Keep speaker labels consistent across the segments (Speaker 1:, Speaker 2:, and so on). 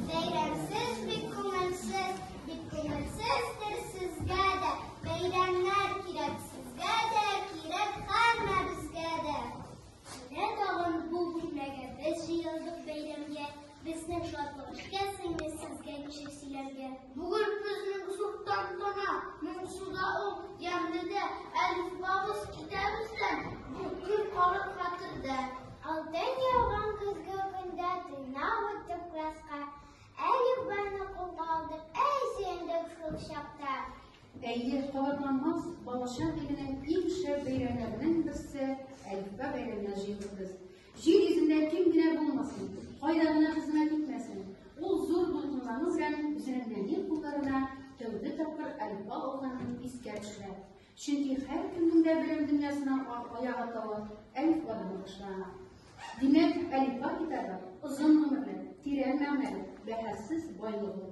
Speaker 1: Бәйрәмсез бик күңелсез, бик күңелсездер сезгә дә, бәйрәмнәр кирәк сезгә дә, кирәк һәммәбезгә дә. Менә тагын бу бүлмәгә без җыелдык бәйрәмгә, безнең шатлык эшкә сеңде сезгә ничек сөйләргә. Бүген безнең зур тантана, моңсуда ул ямьле дә, әлифбабыз китәбездән, бу көн калыр хәтердә. Алтын яуган көзге көндә тыйнак үттек класска, әлифбаны кулга алдык, әй сөендек шул чакта. Әйе, кабатланмас балачак иленең иң шәп бәйрәмнәренең берсе, әлифба бәйрәменә җыелдык без. Җир йөзендә кем генә булмасын, кайда гына хезмәт итмәсен, ул зур дулкынлану белән үзенең нәни кулларына тәүге тапкыр әлфа алганын искә төшерә. Чөнки һәркемнең дә белем дөньясына аяк атавы әлфадан башлана. Димәк, әлфа китабы озын гомерле, тирән мәгънәле, бәһасез байлык ул.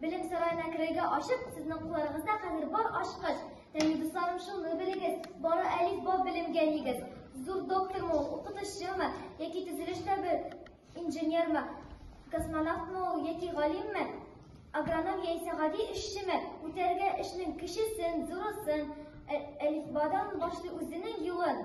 Speaker 1: Белем сараена керергә ачып, сезнең кулларыгызда хәзер бар ачкыч. Тәни дусларым, шуны белегез, бары әлиф ба белемгә егез. Зур доктормы ул, укытучымы, яки төзелештә бер инженермы, космонавтмы ул, яки галимме, агроном яисә гади эшчеме, үтәргә эшнең кечесен, зурысын, әлифбадан башлый үзенең юлын.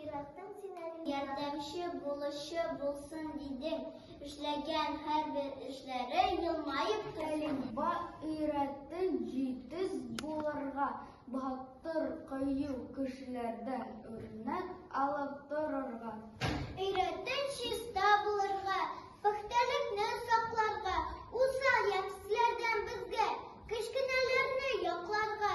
Speaker 1: Яраттың син әле. Ярдәмче булучы булсын дидең. Эшләгән һәрбер эшләре елмаеп көлең. Ба өйрәтте җитез булырга, батыр кыю кешеләрдән үрнәк алып торырга. Өйрәтте чиста булырга, пөхтәлекне сакларга, усал ямьсезләрдән безгә, кечкенәләрне якларга.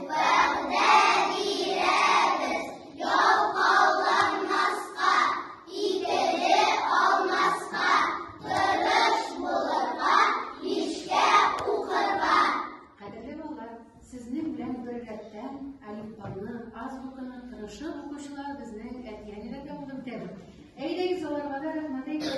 Speaker 1: Вәгъдә бирәбез ялкауланмаска, икеле алмаска, тырыш булырга, мичкә укырга. Кадерле балалар, сезнең белән бер рәттән әлифбаны, азбуканы тырышып укучылар безнең әти-әниләргә булып үтәбез. Әйдәгез аларга да рәхмәт әйтик.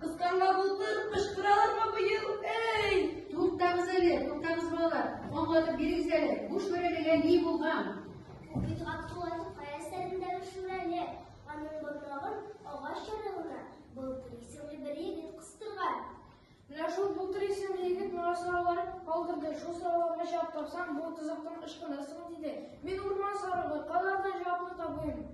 Speaker 1: Кысканга болытлар кычкыралармы бу ел? Эй! Туктагыз әле, туктагыз балалар. Аңлатып бирегез әле. Бу шүрәлегә ни булган? Бит Габдулланың кая сәрендәге шүрәле. Аның борнагын агач ярыгына былтыр исемле бер егет кыстырган. Менә шул былтыр исемле егет моңа сораулар калдырды. Шул сорауларга җавап тапсаң, бу тозактан ычкынырсың, диде. Мин урман сарыгы, кайлардан җавапны табыйм?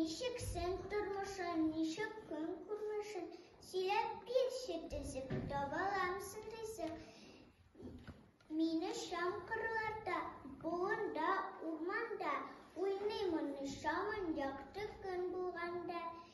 Speaker 1: Ничек сен тормышын, ничек көн күрмешен, сөйләп бирче төзек, табаламсың ризык. Мине шам кырларда, болында, урманда, уйныймын шамын якты көн булганда.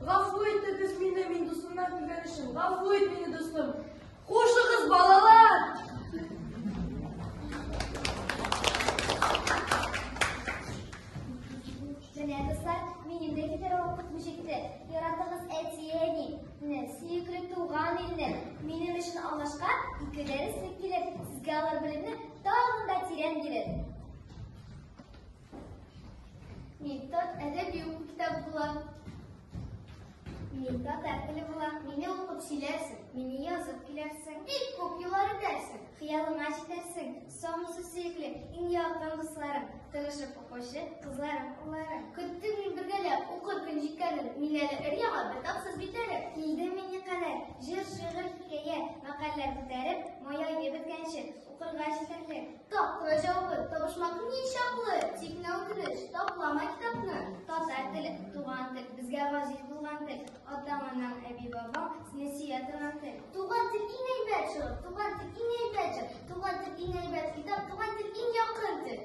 Speaker 1: Гафу итегез мине, мин дусымнан килгән өчен. Гафу ит мине, дустым. Хушыгыз, балалар! Менә, дуслар, мин инде китер вакыт җитте. Яратыгыз әти-әни, не, сөекле туган илне. Минем өчен алмашка ике дәрес килер. Сезгә алар белемне тагын да тирән бирер. Митат әдәби уку китабы була. Митат әпеле була. Мине укып сөйләрсең, мине язып киләрсең. Бик күп юллар үтәрсең, хыялыңа җитәрсең. Самысы сөекле, иң якын дусларым, тырышып укучы кызларым, улларым. Көттем мин бергәләп укыр көн җиткәнен, мин әле өр-яңа бер тапсыз битәре. Килдем мин никадәр, җыр, шигырь, хикәя, мәкальләр күтәреп, мая ебеткәнче, укырга җитәрлек. Тапкыры җавабы табышмак ни чаклы, тик менә үтенеч, таплама китапны. Татар теле, туган тел, безгә газиз булган тел. Атаң, анаң, әби, бабаң, сине сөя торган тел. Туган тел иң әйбәт шул, туган тел иң әйбәт җыр, туган тел иң әйбәт китап, туган тел иң якын тел.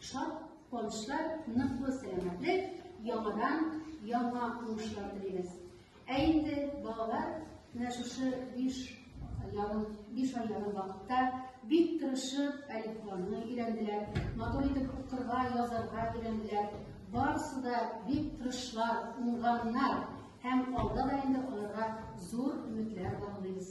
Speaker 1: Шат куанычлар, ныклы сәламәтлек, яңадан яңа уңышлар телибез. Ә инде балалар менә шушы биш ярым биш ай ярым вакытта бик тырышып әлифбаны өйрәнделәр, матур итеп укырга, язарга өйрәнделәр. Барысы да бик тырышлар, уңганнар һәм алда да инде аларга зур өметләр баглыйбыз.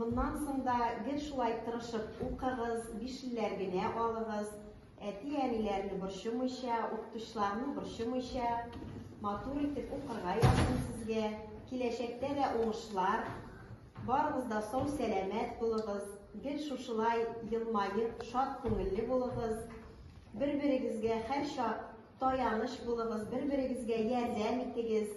Speaker 1: Моннан соң да гел шулай тырышып укыгыз, бишлеләр генә алыгыз, әти-әниләрне борчымыйча, укытучыларны борчымыйча, матур итеп укырга язсын сезгә, киләчәктә дә уңышлар, барыгыз да сау-сәламәт булыгыз, гел шушылай елмаеп, шат күңелле булыгыз, бер-берегезгә һәрчак таяныч булыгыз, бер-берегезгә ярдәм итегез,